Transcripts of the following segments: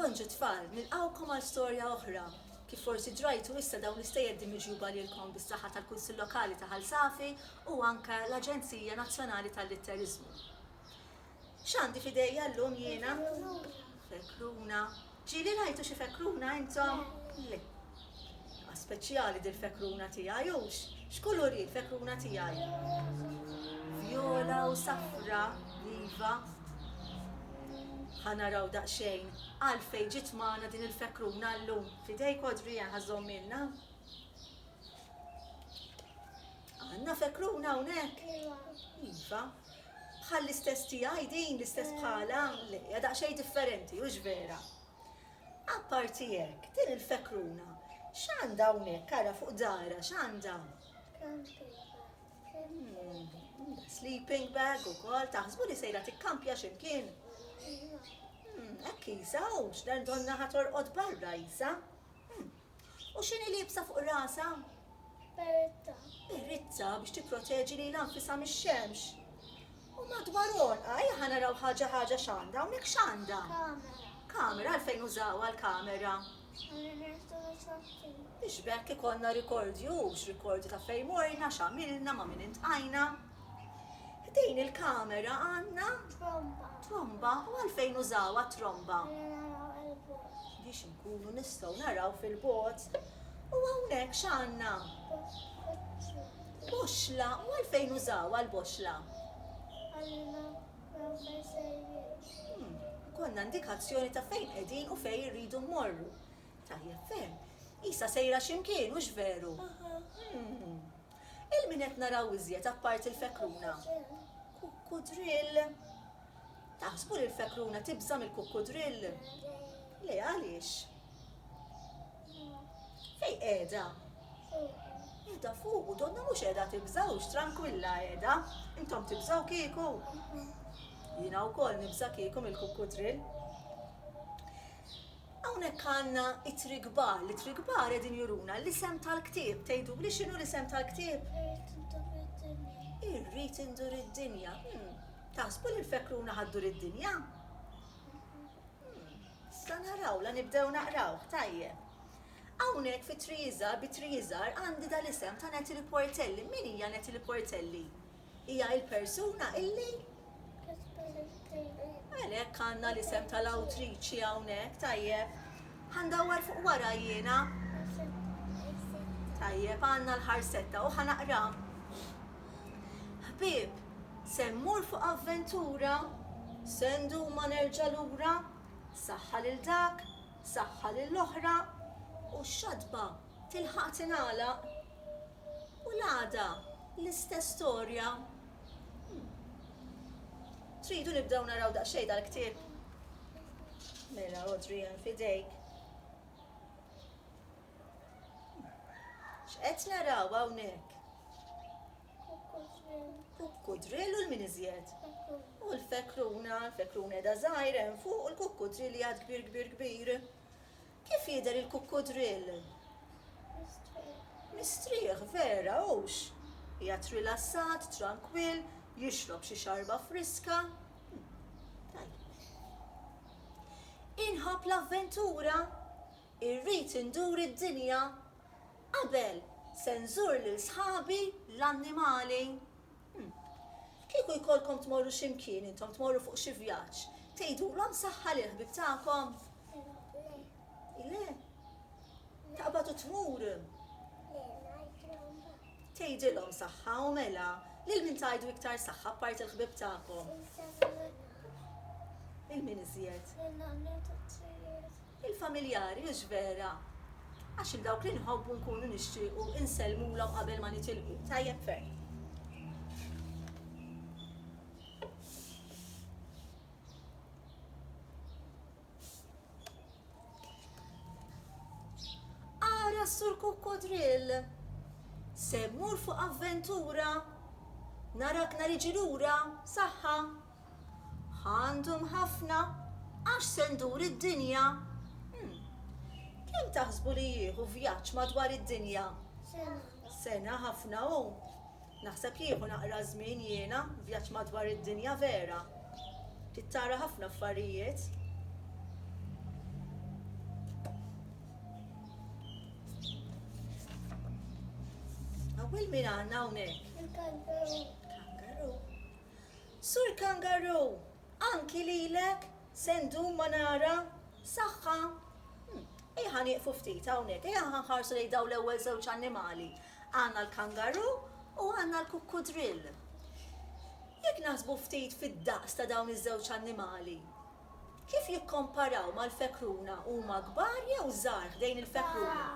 Bonġu tfal, nilqgħukom għal storja oħra. Kif forsi ġrajtu issa dawn l-istejjeddi miġjuba lilkom bis-saħħa tal-Kunsill Lokali ta' Ħal Safi u anke l-Aġenzija Nazzjonali tal-Litteriżmu. X'għandi f'idejja llum jiena? Fekruna. Ġieli rajtu xi fekruna intom? Le. Ah speċjali dil-fekruna tiegħi hux x'kulur hi l-fekruna tiegħi? Vjola u safra iva. Ħa naraw daqsxejn għalfejn ġiet magħna din il-fekruna llum. F'idejk Adrian ħa żommilna. Għandna fekruna hawnhekk? Iva. Bħall-istess tiegħi din l-istess bħala? Le, hija daqsxejn differenti, hux vera? Apparti hekk, din il-fekruna x'għandha hawnhekk, ara fuq daharha x'għandha? Sleeping bag ukoll, taħsbu li sejra tikkampja xi mkien? Hekk qisha, u x'dan donnha ħa torqod barra qisha. U x'inhi liebsa fuq rasha? Beretta. Beretta biex tipproteġi lilha nfisha mix-xemx. U madwar għonqha, ejja ħa naraw ħaġa ħaġa x'għandha hawnhekk x'għandha? Kamera. Kamera għalfejn użawha l-kamera? Għalli nirtu ritratti. Biex b'hekk ikollna rikordju, x'rikordju ta' fejn morna, x'għamilna, ma' min intqajna. Ħdejn il-kamera għandna? Tromba. Tromba, u għalfejn użawha t-tromba? Għalli naraw il-bogħod. Biex Nkunu nistgħu naraw fil-bogħod u hawnhekk x'għandna? Boxxla u għalfejn użawha l-boxxla? Għallina naraw fejn sejrin. Ikollna indikazzjoni ta' fejn qegħdin u fejn irridu mmorru. Tajjeb ferm. Qisha sejra xi mkien, hux veru? Il-min qed naraw iżjed apparti l-fekruna? Kukkudrill. Taħsbu li l-fekruna tibża' mill-kukkudrill? Le, għaliex? Fejn qiegħda? Qiegħda fuqu, donna mhux qiegħda tibża' hux trankwilla qiegħda. Intom tibżgħu kieku? Jiena wkoll nibża' kieku mill-kukkudrill. Hawnhekk għandna ittri kbar, l-ittri kbar qegħdin juruna l-isem tal-ktieb. Tgħiduli x'inhu l-isem tal-ktieb? Irrid indur id-dinja. Irrid indur id-dinja. Taħsbu li l-fekruna ħa ddur id-dinja? Umm, sa naraw, la nibdew naqrawh, tajjeb. Hawnhekk fi Tri Iżgħar bi Tri Iżgħar għandi dal-isem ta' Natalie Portelli. Min hija Natalie Portelli? Hija il-persuna illi? Kitbet it-tili. Għalhekk għandna l-isem tal-awtriċi hawnhekk, tajjeb. Ħa ndawwar fuq wara jiena. Ħarsetta, ħarsetta. Tajjeb, għandna l-ħarsetta u ħa naqra. Ħbieb, se mmur fuq avventura? Se ndum ma nerġa' lura? Saħħa lil dak, saħħa lill-oħra, u x-xatba tilħaq tingħalaq. U l-għada l-istess storja. Hm. Tridu nibdew naraw daqsxejn dal-ktieb? Mela Adrian f'idejk. X'qed naraw hawnhekk? Kukkudrill u l-min iżjed. U l-fekruna, l-fekruna edha żgħir hemm fuq u l-kukkudrill hija kbir kbir kbir. Kif jidher il-kukkudrill? Mistrieħ, vera, hux? Hija trilassat, trankwill, jixrob xi xarba friska. Inħobb l-avventura, Irrid indur id-dinja qabel se nżur lil sħabi l-annimali. Hm. Kieku jkollkom tmorru xi mkien intom, tmorru fuq xi vjaġġ, tgħidulhom saħħa lill-ħbieb tagħkom? Le. Le? Taqbad u tmur? Le, ngħidilhom mbagħad. Tgħidilhom saħħa u mela, lil min tgħidu iktar saħħa apparti l-ħbieb tagħkom? Lil min iżjed? Lil nanniet u t-trijieet. Il-familjari, hux vera? Għax 'il dawk li nħobbu nkunu nixtiequ insellmulhom qabel ma nitilqu. Tajjeb ferm. Ara s-Sur Kukkodrill! Se mmur fuq avventura! Narak nar iġi lura! B'saħħa! Għandhom ħafna għax se ndur id-dinja. Hm. Kemm taħsbu li jieħu vjaġġ madwar id-dinja? Sena. Sena ħafna hu. Naħseb jieħu naqra żmien jiena, vjaġġ madwar id-dinja vera. Trid tara ħafna affarijiet. Awwel min għandna hawnhekk? Il-kangaru. Kangaru. Sur Kangaroo, anki lilek se ndum ma nara. Saħħa. Ejja nieqfu ftit hawnhekk, ejja nħarsu lejn dawn l-ewwel żewġ annimali. Għandna l-kangaroo u għandna l-kukkudrill. Jekk naħsbu ftit fid-daqs ta' dawn iż-żewġ annimali, Kif jikkomparaw mal-fekruna, huma kbar jew żgħar ħdejn il-fekruna?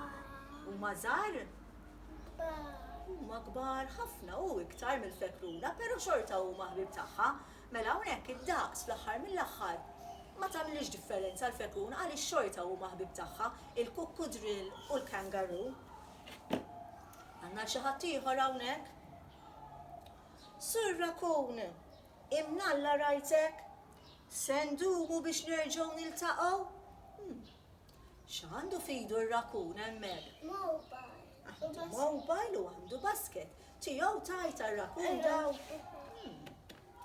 Huma żgħar? Huma kbar ħafna u iktar mill-fekruna, però xorta huma ħbieb tagħha. Mela hawnhekk id-daqs fl-aħħar mill-aħħar ma tagħmilhiex differenza l-fekruna għaliex xorta huma ħbieb tagħha, il-kukkudrill u l-kangaroo. Għandna l-xi ħadd ieħor hawnhekk? Sur Rakun, Imnalla rajtek? Se ndumu biex nerġgħu niltaqgħu? Hm. X'għandu f'idu r-rakun hemmhekk? Mobile. Għandu mobile u għandu basket. Tiegħu tajt għar-rakun daw. Hm.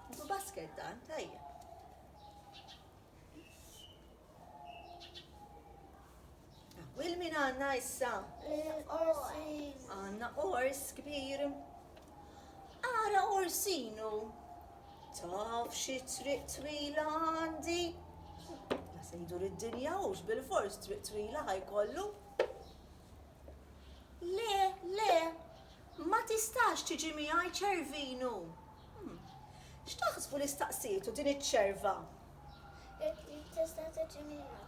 Għandu basket dan, tajjeb. Wil min għandna issa? Għandna ors kbir. Ara orsinu. Taf xi triq twila għandi. La se jdur id-dinja hux bil-fors triq twila ħajkollu. Le, le, ma tistax tiġi miegħi ċervinu. Hmm. X'taħsbu li staqsietu din iċ-ċerva? Tista' tiġimilha?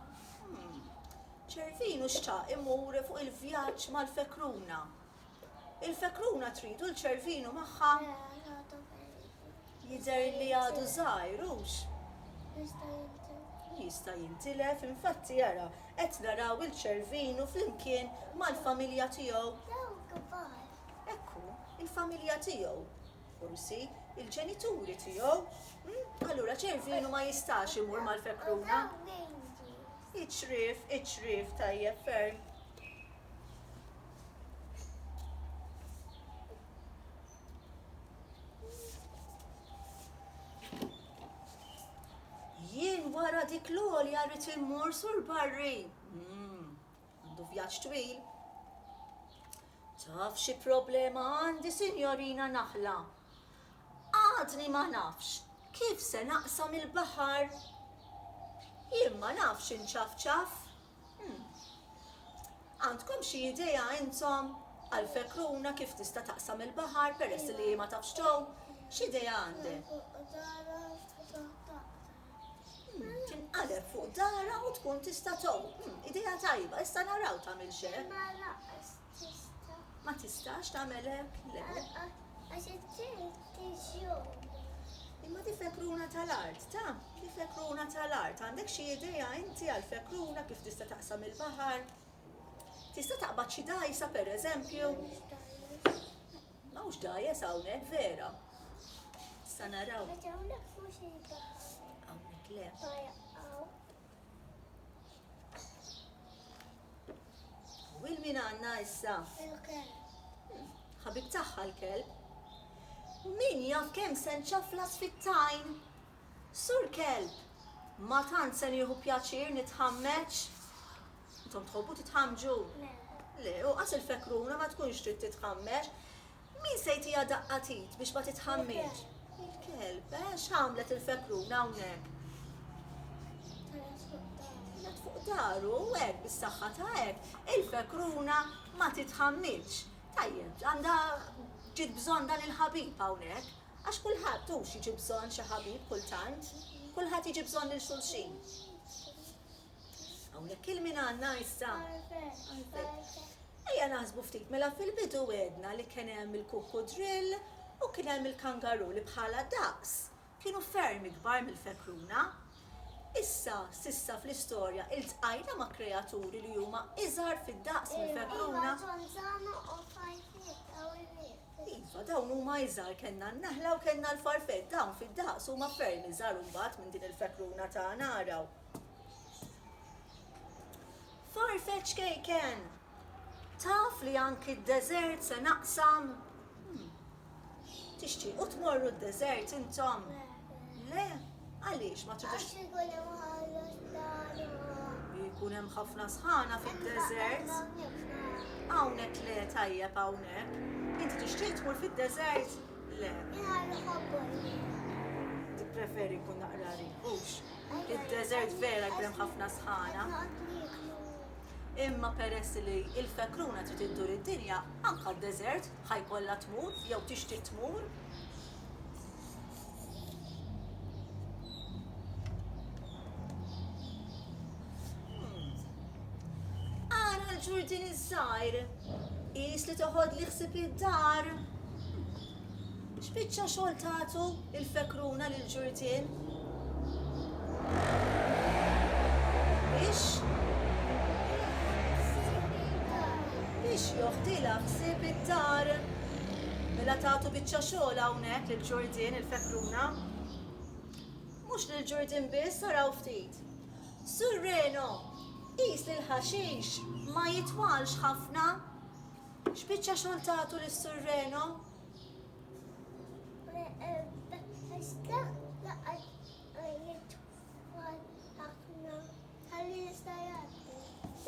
Ċervinu xtaq imur fuq il-vjaġġ mal-fekruna. Il-fekruna tridu l-ċervinu magħha? Jidher li għadu żgħir hux? Jista' jintilef. Jista' jintilef, infatti jara qed naraw il-ċervinu flimkien mal-familja tiegħu. Ekku, il-familja tiegħu. Forsi, il-ġenituri tiegħu. Hm? Allura ċervinu ma jistax imur mal-fekruna. Iċrif, iċrif, tajjeb ferm. Jien wara dik l-għolja rrit immur sur barri. Hmm. Għandu vjaġġ twil. Taf xi problema għandi, Sinjorina Naħla? Għadni ma nafx kif se naqsam il-baħar. Jien ma nafx inċafċaf. Hmm. Għandkom xi idea intom għal fekruna kif tista' taqsam il-baħar peress li ma tafx tow? X'idea għandek? Tinqaleb fuq darha u tkun tista' tgħum. Hmm, idea tajba, issa naraw tagħmilx hekk. Ma lanqas tista'. Ma tistax tagħmel hekk? Le. Għax it-tilt tiġjum. Imma di fekruna tal-art, ta? Di fekruna tal-art. Għandek xi idea inti għal fekruna kif tista' taqsam il-baħar? Tista' taqbad xi dajsa pereżempju? M'hawnx dgħajjes hawnhekk vera. Sa naraw. Għax hawnhekk mhux jidħol. Hawnhekk le. U il min għandna issa? Il-kelb. Ħabib tagħha l-kelb. U min jaf kemm se nċaflas fit-tajn? Sur Kelb, Ma tant se nieħu pjaċir nitħammeġ? Intom tħobbu titħammġu? Le. Le, u qas il-fekruna ma tkunx trid titħammeġ. Min se jtiha daqqa t'id biex ma titħammieġ? Il-kelb. Eh, x'għamlet il-fekruna hawnhekk? Telgħet fuq daru. U hekk, bis-saħħa ta' hekk, il-fekruna ma titħammidx. Tajjeb, għandha ġiet bżonn dan il-ħabib hawnhekk. Għax kulħadd hux jiġi bżonn xi ħabib kultant, kulħadd jiġi bżonn lil xulxin. Hawnhekk il-min għandna issa? Għalfejn. Ejja naħsbu ftit, mela fil-bidu għedna li kien hemm il-kukkudrill u kien hemm il-kangaroo li bħala daqs kienu ferm ikbar mill-fekruna. Issa, s'issa fl-istorja iltqajna ma' kreaturi li huma iżgħar fid-daqs mill-fekruna? Iva, dawn huma iżgħar, kellna n-naħla u kellna l-farfell, dawn fid-daqs huma ferm iżgħar imbagħad minn din il-fekruna tagħna araw. Farfetx kejken! Taf li anki d-deżert se naqsam? Hmm. Tixtiequ tmorru d-deżert intom? Le, għaliex ma tridux? Għax ikun hemm ħallas tagħna. Ikun hemm ħafna sħana fid-deżert. Hawnhekk le tajjeb hawnhekk. Inti tixtieq tmur fid-deżert? Le. Tippreferi jkun naqra ribux. Id-deżert vera jkun hemm ħafna sħana. Imma peress li il-fekruna trid iddur id-dinja, anka d-deżert ħajkollha tmur jew tixtieq tmur. Għana l-ġurdin iż-żgħir, qis li toħod li ħsib id-dar. X'biċċa xogħol tagħtu il-fekruna lil ġurdin? Biex biex joħdilha ħsieb id-dar. Mela tagħtu biċċa xogħol hawnhekk lil Ġurdien il-fekruna. Mhux lil Ġurdien biss araw ftit. Sur Reno, qis li l-ħaxix ma jitwalx ħafna. X'biċċa xogħol tagħtu lis-Sur Reno?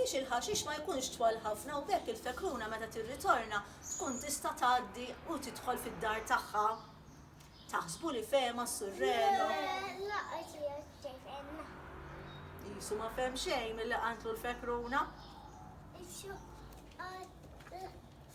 biex il-ħaxix ma jkunx twal ħafna u b'hekk il-fekruna meta tirritorna tkun tista' tgħaddi u tidħol fid-dar tagħha. Taħsbu li fehemha s-Sur Reno? Qisu ma fehem xejn milli qantlu l-fekruna.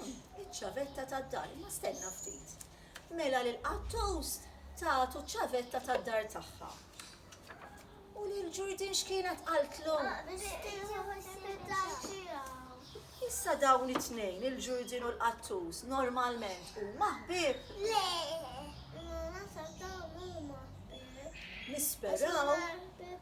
Hm, iċ-ċavetta tad-dar, imma stenna ftit. Mela lil Qattus tagħtu ċ-ċavetta tad-dar tagħha. U lil Ġurdin x'kienet qaltlu? Issa dawn it-tnejn, il-Ġurdin u l-Qattus, normalment huma ħbieb? Le, naħseb dawn huma ħbieb. Nisperaw.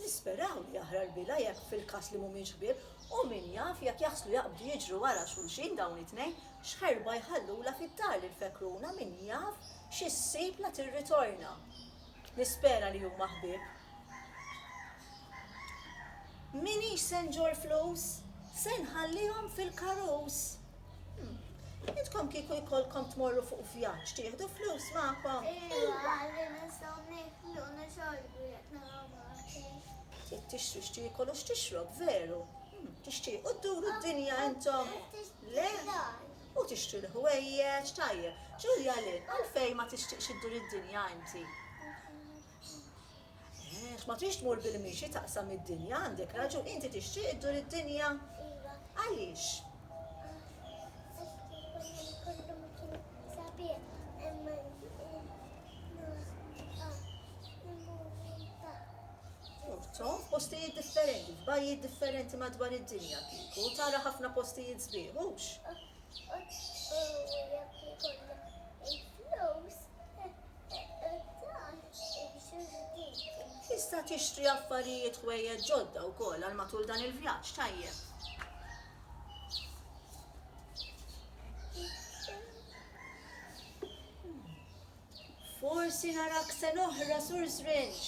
Nisperaw li jaħraq l-bila jekk fil-każ li mhumiex ħbieb u min jaf jekk jaħslu jaqbdu jiġru wara xulxin dawn it-tnejn x'ħerba jħallulha fid-dar lill-fekruna min jaf xi ssib la tirritorna. Nispera li huma ħbieb. M'iniex se nġorr flus, se nħallihom fil-karus. Intkom kieku jkollkom tmorru fuq vjaġġ tieħdu flus magħkom? Iva, li nistgħu niklu u nixorbu jekk nagħmlu marketing. Jekk tixtri x'tiekol u x'tixrob veru. Hmm, tixtiequ dduru d-dinja intom? Le? U tixtri l-ħwejjeġ, tajjeb. Ġulja li, għalfejn ma tixtieqx iddur id-dinja inti? Għax ma trix tmur bil-mixi taqsam id-dinja, għandek raġun, inti tixtieq iddur id-dinja? Iva. Għaliex? Urtom f'postijiet differenti, f'bajjiet differenti madwar id-dinja kieku, tara ħafna postijiet sbieħ, hux? Tista' tixtri affarijiet ħwejjeġ ġodda wkoll għal matul dan il-vjaġġ tajjeb. Forsi narak se noħra sur żrinġ.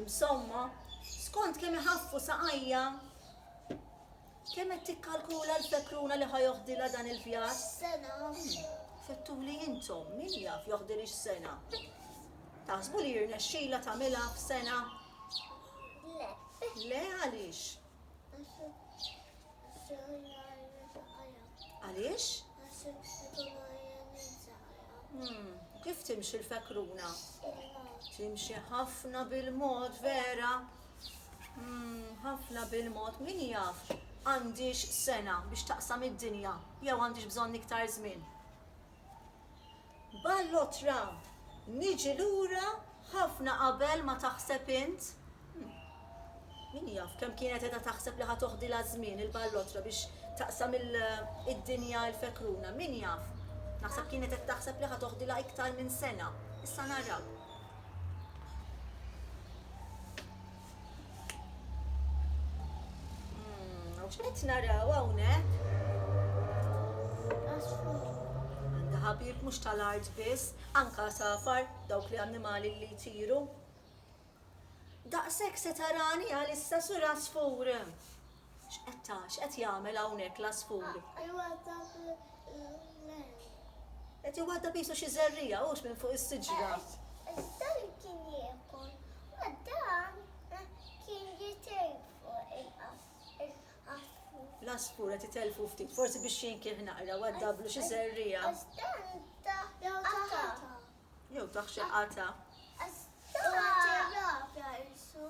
Imsomma, skont kemm iħaffu saqajja, Kemm qed tikkalkula l-fekruna li ħa joħdilha dan il-vjaġġ? Sena. Fettuli intom, min jaf joħdilhiex sena? Taħsbu li jirnexxilha tagħmilha f'sena? Le. Le għaliex? Għaliex? Hmm, kif timxi l-fekruna? Timxi ħafna bil-mod, vera? Mmm, ħafna bil-mod, min jaf, għandhiex sena biex taqsam id-dinja jew għandhiex bżonn iktar żmien? Ballo Tra, Niġi lura ħafna qabel ma taħseb int? Mmm, min jaf kemm kienet qiegħda taħseb li ħa toħdilha ż-żmien il-ballotra biex taqsam id-dinja l-fekruna, min jaf? Naħseb kienet qed taħseb li ħa toħdilha iktar minn sena, issa naraw. X'qed naraw hawnhekk? Għandha ħabib mhux tal-art biss, anka safar dawk li annimali li jtiru. Daqshekk se tarani għalissa sur asfur. X'qed ta, x'qed jagħmel hawnhekk l-għasfur? Iwaddab l-għemel. Qed iwaddab qisu xi żerriegħa hux minn fuq is-siġra. Iż-żerriegħa kien jiekol u dan kien jitejjeb fuq il-għasfur. L-għasfur qed itellfu ftit, forsi biex jinkieħ naqra waddablu xi żerriegħa. Għax dan ta jew ta qatgħa. Jew ta xi qatgħa. Għax dan. U qed jirrabja qisu.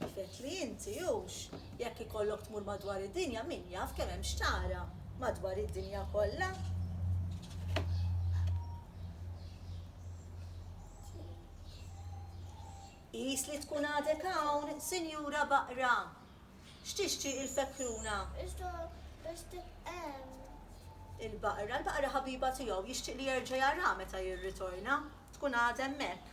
Kif għedtli inti, hux, jekk ikollok tmur madwar id-dinja, min jaf kemm hemm x'tara, madwar id-dinja kollha. Qis li tkun għadek hawn, Sinjura Baqra. X'tixtieq il-Fekruna? Iżda biss tibqa' hemm. Il-Baqra, il-Baqra ħabiba tiegħu, jixtieq li jerġa' jaraha meta jirritorna, tkun għadha hemmhekk.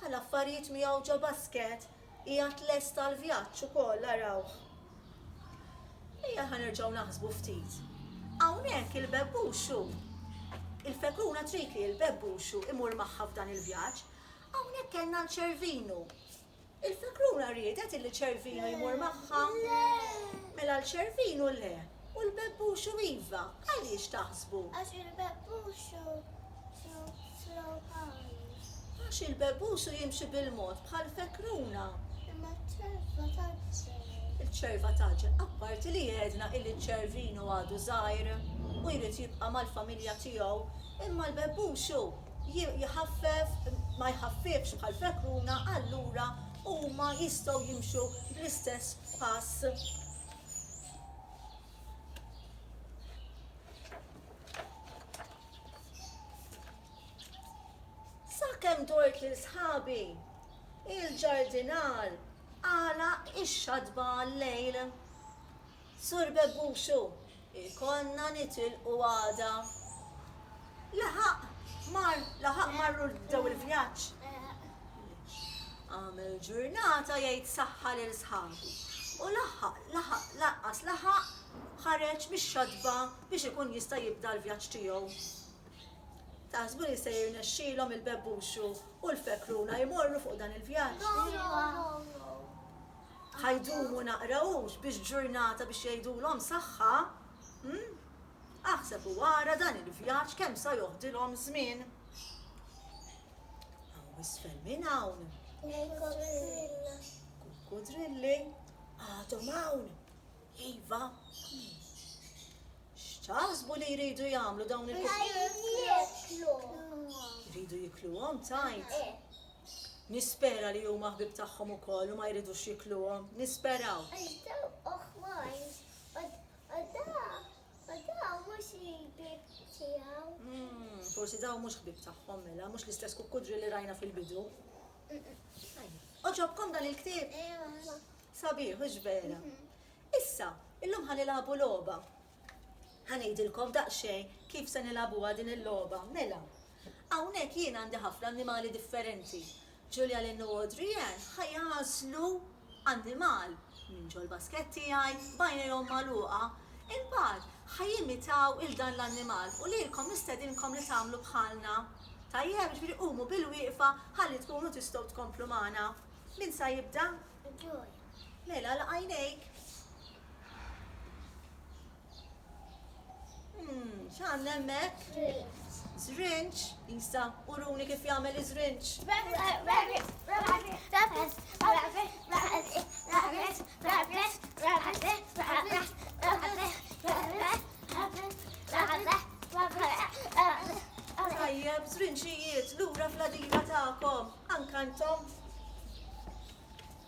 Bħal affarijiet miegħu ġo basket, qiegħed lest għall-vjaġġ ukoll, arawh. Ejja ħa nerġgħu naħsbu ftit. Hawnhekk il-bebbuxu, il-fekruna trid li l-bebbuxu imur magħha f'dan il-vjaġġ. Hawnhekk kellna l-ċervinu. Il-fekruna riedet illi ċervinu jmur magħha? Mela l-ċervinu le. U l-bebbuxu iva, għaliex taħsbu? Għax il-bebbuxu hu slow high. Għax il-bebbuxu jimxi bil-mod bħal fekruna. Imma ċ-ċerva tgħaġġel. Il-ċerva tgħaġġel, apparti li għedna illi ċ-ċervinu għadu żgħir u jrid jibqa' mal-familja tiegħu, imma l-bebbuxu jħaffef, ma jħaffifx bħal fekruna, allura huma jistgħu jimxu bl-istess pass. Sakemm dort lil sħabi, il-ġardinar għalaq ix-xatba għal-lejl. Sur Bebbuxu, ikollna nitilqu għada. Laħaq mar, laħaq marru bdew il-vjaġġ. Qam il-ġurnata jgħid saħħa lil sħabu u laħaq laħaq lanqas laħaq ħareġ mix-xatba biex ikun jista' jibda l-vjaġġ tiegħu. Taħsbu li se jirnexxilhom il-bebbuxu u l-fekruna jmorru fuq dan il-vjaġġ? Ħa jdumu naqra hux biex ġurnata biex jgħidulhom saħħa? Aħseb u ara dan il-vjaġġ kemm sa joħdilhom żmien. Aw isfel minn hawn. Il-kukkudrilli. Kukkudrilli għadhom hawn. Iva. X'taħsbu li jridu jagħmlu dawn il-kukkudrilli? Jridu jikluhom tajt. Nispera li huma ħbib tagħhom ukoll u ma jridux jikluhom. Nisperaw. Ma dawn mhux il-ħbieb tiegħu. Forsi dawn mhux ħbieb tagħhom mela, mhux l-istess kukkudri li rajna fil-bidu. Oġobkom dan il-ktieb? Ewa. Sabiħ, hux vera. Issa, illum ħa nilagħbu logħba. Ħa ngħidilkom daqsxejn kif se nilagħbuha din il-logħba, mela. Hawnhekk jien għandi ħafna annimali differenti. Julia Lynn u Audrey Anne ħa jagħżlu annimal minn ġol-baskett tiegħi b'għajnejhom magħluqa. Imbagħad ħa jimitaw 'il dan l-annimal u lilkom nistedinkom li tagħmlu bħalna. Tajjeb, jiġifieri qumu bilwieqfa ħalli tkunu tistgħu tkomplu magħna. Min sa jibda? Julia. Mela, agħlaq għajnejk. Hmm, x'għandna hemmhekk? Zrinċ, Isa, uruni kif jagħmel iż-żrinċ. Tajjeb, żrinċijiet, lura fl-adina tagħkom, anka intom.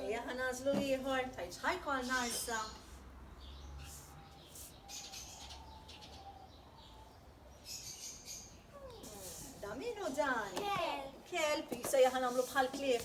Ejja ħa nagħżlu ieħor, tajt x'ħajkolna issa. Da minu dan? Kelb. Kelb, jisa jaħan għamlu bħal klif.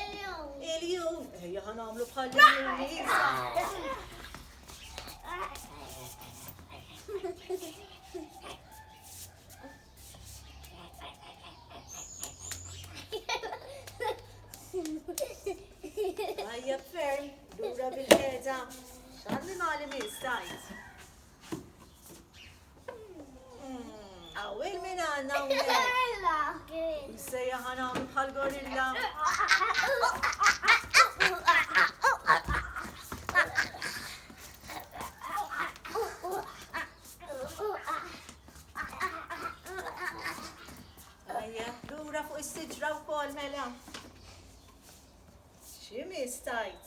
Il-jum. Il-jum. Ejja ħa nagħmlu bħal Ħajja ferm, dura bil-ħeda. X'għandi mali minn stajt. Għawil minn għanna u minn. Msejja ħana għamlu bħal gorilla. Lura fuq is-siġra u kol mela. Ximi stajt?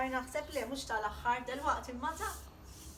tal-aħħar naħseb li mhux tal-aħħar delwaqt il-mata.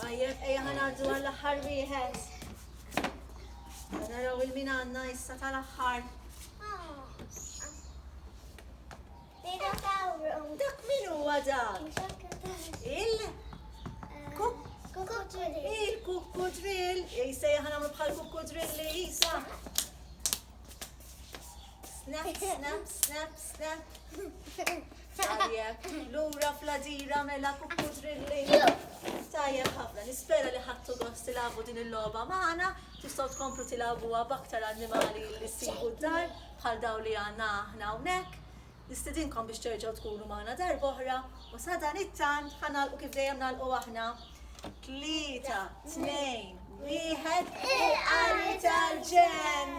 Tajjeb, ejja ħanaddu għall-aħħar wieħed. Naraw il-min għandna issa tal-aħħar. Dak min huwa dan? Il? Il-kukkudrill. Ejsa jaħna bħal kukkudrill li jisa. Snap, snap, snap, snap. Tajjeb, lura fl-għadira mela kukku drilli. Tajjeb ħafna, nispera li ħattu gost tilabu din il-logħba magħna, tistgħu tkomplu tilabuha b'aktar annimali li ssibu d-dar bħal daw li għandna aħna hawnhekk. Nistidinkom biex terġgħu tkunu magħna darba oħra u sa dan it-tant ħanalqu kif dejjem nagħlqu aħna. Tlieta, tnejn, wieħed, il-qari tal-ġen!